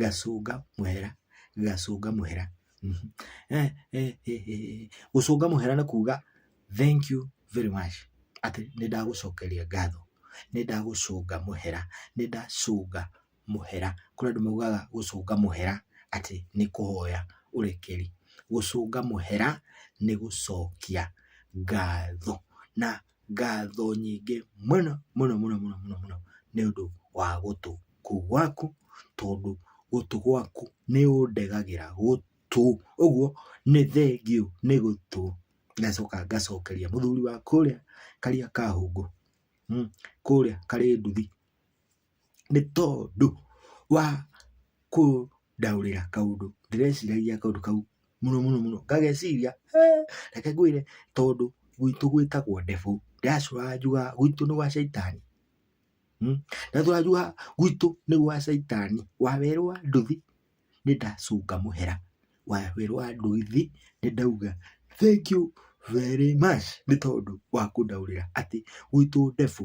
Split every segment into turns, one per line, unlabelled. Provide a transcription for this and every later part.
Gacũnga mũhera, gacũnga mũhera, gũcũnga mũhera nĩ kuga thank you very much atĩ nĩ ndagũcokeria ngatho, nĩ ndagũcũnga mũhera, nĩ ndacũnga mũhera. Kũrĩ andũ maugaga gũcũnga mũhera atĩ nĩ kũhoya ũrekeri. Gũcũnga mũhera nĩ gũcokia ngatho na Ngatho nyingĩ mũno mũno mũno mũno mũno mũno nĩ ũndũ wa gũtũ kũu gwaku, tondũ gũtũ gwaku nĩ ũndegagĩra gũtũ. Ũguo nĩ thengiũ nĩ gũtũ. Ngacoka ngacokeria mũthuri wa kũrĩa Kariakahũngũ, kũrĩa Karĩnduthi. nĩ tondũ wa kũndaũrĩra kaũndũ ndĩreciragia kaũndũ kau mũno mũno mũno ngageciria reke ngwĩre tondũ gwitũ gwĩtagwo ndefu ndĩracũraga njugaga gwitũ nĩ gwa caitani. Ndacũraga njugaga gwitũ nĩ gwa caitani wawerũa nduthi nĩ ndacũnga mũhera, wawerũa nduthi nĩ ndauga thengiũ very much nĩ tondũ wa kũndaũrĩra atĩ gwitũ ndefu.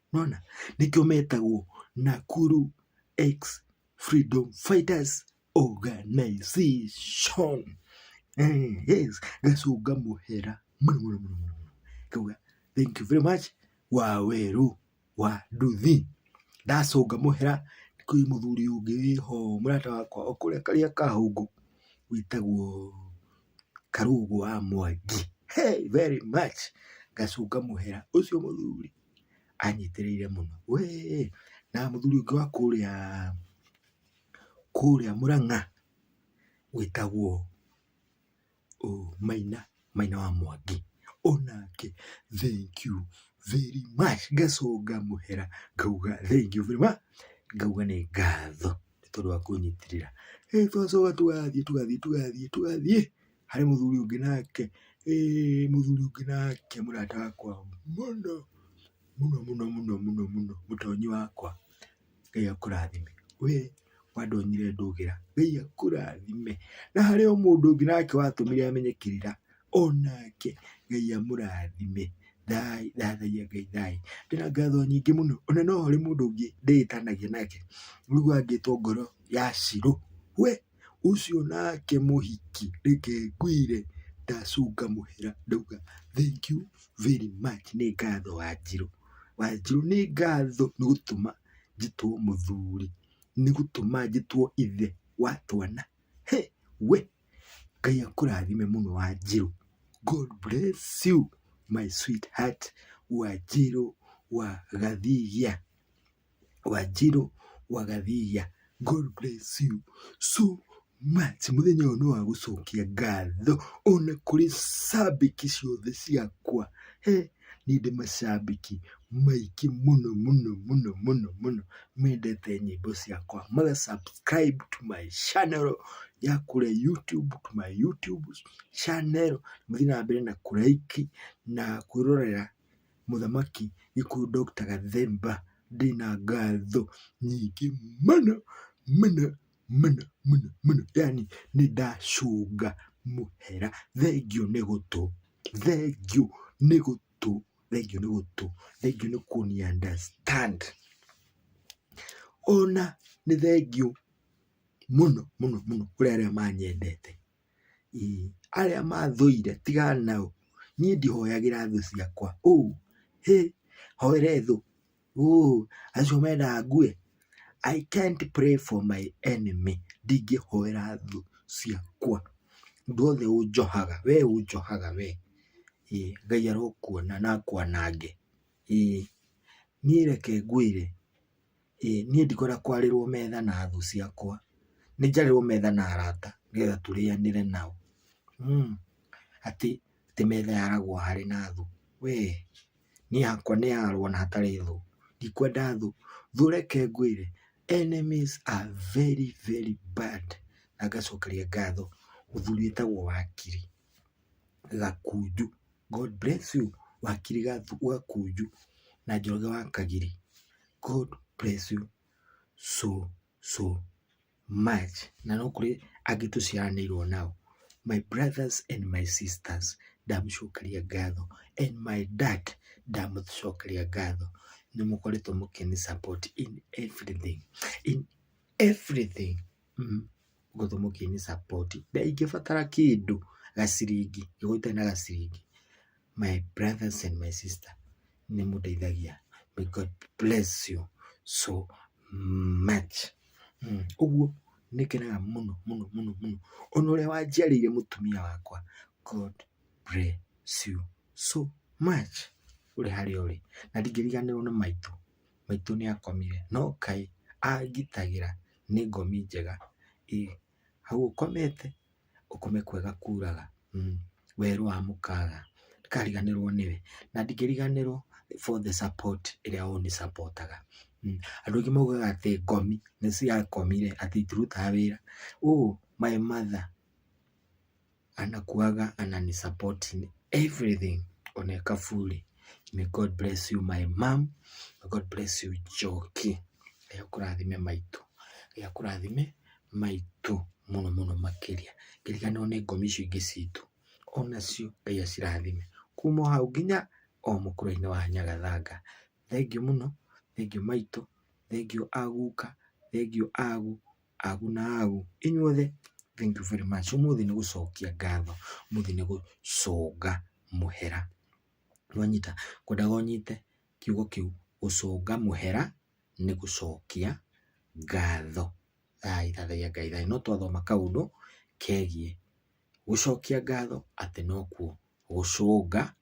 Nĩwona? Nĩkĩo metagwo Nakuru ex-freedom fighters organization. Yes, gacũnga mũhera mũno mũno mũno mũno mũno. Ngauga thank you very much Wawerũ wa nduthi. Ndacũnga mũhera kwĩ mũthuri ũngĩ wĩho mũrata wakwa o kũrĩa karĩa ka hũngũ wĩtagwo Karũgũ wa Mwangi. He, very much ngacũnga mũhera ũcio mũthuri. anyitĩrĩire mũno wee, na mũthuri ũngĩ wa kũrĩa kũrĩa Mũrang'a wĩtagwo Maina, Maina wa Mwangi, onake thank you very much ngacũnga mũhera ngauga thank you very much ngauga nĩ ngatho nĩ tondũ wa kũnyitĩrĩra, ĩĩ tũgacoka tũgathiĩ tũgathiĩ tũgathiĩ tũgathiĩ. harĩ mũthuri ũngĩ nake, ĩĩ mũthuri ũngĩ nake mũrata wakwa mũno, mũno mũno mũno mũno mũno, mũtonyi wakwa, Ngai akũrathime, we wandonyire ndũgĩra, Ngai akũrathime, na harĩ o mũndũ ũngĩ nake watũmire menye kĩrĩra, onake Ngai amũrathime, thayũ, thathaiya Ngai thayũ, ndĩna ngatho nyingĩ mũno, ona no harĩ mũndũ ũngĩ ndĩtanagia nake, rĩu angĩtwo ngoro ya Shilo, we. ũcio nake mũhiki reke ngwĩre ndacũnga mũhera ndauga thank you very much nĩ ngatho wanjirũ. Wanjirũ nĩ ngatho nĩ gũtũma njĩtwo mũthuri nĩ gũtũma njĩtwo ithe wa twana. Hĩ we Ngai akũrathime mũno wanjirũ God bless you my sweetheart wanjirũ wa gathigia. Wanjirũ wa Gathiia God bless you so much. Mũthenya ũyũ nĩ wa gũcokia ngatho ona kũrĩ cambĩki ciothe ciakwa. He, niĩ ndĩ macambĩki maingĩ mũno mũno mũno mũno mũno mendete nyĩmbo ciakwa. Maga subscribe to my channel ya kũrĩa YouTube, to my YouTube channel. Mũthiĩ na mbere na kũ like na kwĩrorera Mũthamaki gĩkũyũ Doctor Gathemba ndĩna ngatho nyingĩ mũno mũno mũno mũno mũno yani nĩ ndacũnga mũhera. Thengiũ nĩ gũtũ, thengiũ nĩ gũtũ, thengiũ nĩ gũtũ, thengiũ nĩ kũni understand. Ona nĩ thengiũ mũno mũno mũno kũrĩ arĩa manyendete. Arĩa mathũire tigana nao, niĩ ndihoyagĩra thũ ciakwa. Hĩ! Hoere thũ? Acio mendaga ngue? I can't pray for my enemy ndingĩhoera thũ ciakwa. Mũndũ wothe ũnjohaga, we ũnjohaga we, Ngai arokuona na akwanange. Ĩĩ, niĩ reke ngwĩre. Ĩĩ niĩ ndikwenda kwarĩrwo metha na thũ ciakwa, nĩ njarĩrwo metha na arata nĩgetha tũrĩanĩre nao. Atĩ metha yaragwo harĩ na thũ we, niĩ hakwa nĩ yarwo na hatarĩ thũ, ndikwenda thũ. Thũ reke ngwĩre enemies are very very bad na ngacokeria ngatho mũthuri wĩtagwo wakiri. Gakunju, God bless you wakiri Gakunju na Njoroge wa Kagiri, God bless you so so much na no kũrĩ angĩ tũciaranĩirwo nao, my brothers and my sisters ndamũcokeria ngatho and my dad ndamũcokeria ngatho nĩ mũkoretwo mũkĩnĩ support in everything, in everything. Gũkũ mũciĩ-inĩ support ingĩbatara kĩndũ gaciringi gĩkoo itarĩ na gaciringi my brothers and my sisters nĩ mũndeithagia may God bless you so much. Ũguo nĩ ngenaga mũno mũno mũno mũno ona ũrĩa wanjiarĩire mũtumia wakwa God bless you so much ũrĩ harĩa ũrĩ. Na ndingĩriganĩrwo nĩ maitũ, maitũ nĩ akomire no Ngai angitagĩra. nĩ ngomi njega, ĩ hau ũkomete ũkome kwega kuraga, werũ wa mũkaga ndũkariganĩrwo nĩwe, na ndingĩriganĩrwo for the support ĩrĩa ũnĩ support aga, andũ aingĩ maugaga atĩ ngomi nĩ ciakomire atĩ itirutaga wĩra, ũũ my mother. Anakuwaga anani support in everything on a kafuli. May God bless you my mom. May God bless you Joki. Ngai akũrathime maitũ. Ngai akũrathime maitũ mũno mũno makĩria. Ngerekana one ngomi icio ingĩ citũ. Onacio Ngai acirathime. Kuma o hau nginya o mũkũrũ-inĩ wa Nyagathanga. Thengiũ mũno, thengiũ maitũ, thengiũ a guka, thengiũ a gu, Agu na agu, inyuothe, thank you very much. Ũmũthĩ nĩ gũcokia ngatho, ũmũthĩ nĩ gũcũnga mũhera. Nĩwanyita? Ngwendaga ũnyite kiugo kĩu, gũcũnga mũhera nĩ gũcokia ngatho. Thayũ, thathaiya Ngai thayũ. No twathoma kaũndũ kegiĩ gũcokia ngatho atĩ nokuo gũcũnga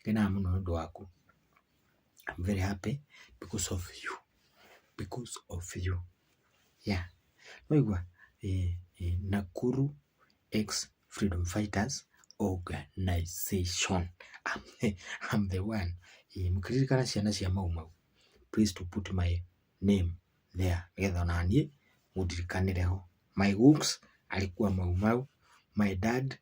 Ngenaga mũno nĩ ũndũ waku. I'm very happy because of you, because of you, yeah. Nĩ waigua? Nakuru ex-freedom fighters organization, I'm the one. Mũkĩririkana ciana cia Mau Mau, please do put my name there nĩgetha o naniĩ mũndirikanĩre ho. My guuks alikuwa Mau Mau, my dad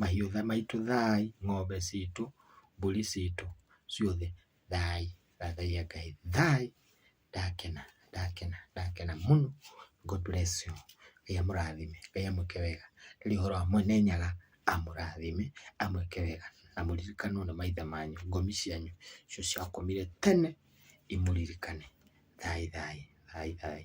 mahiũ maitũ thaaĩ, ng'ombe citũ, mbũri citũ ciothe thaaĩ, thathaiya Ngai thaaĩ, ndakena, ndakena, ndakena mũno. God bless you. Ngai amũrathime, Ngai amwĩke wega. Ndarĩ ũhoro wa Mwene Nyaga, amũrathime, amwĩke wega, na mũririkanwo nĩ maithe manyu, ngomi cianyu icio ciakomire tene imũririkane. Thaaĩ thaaĩ, thaaĩ thaaĩ.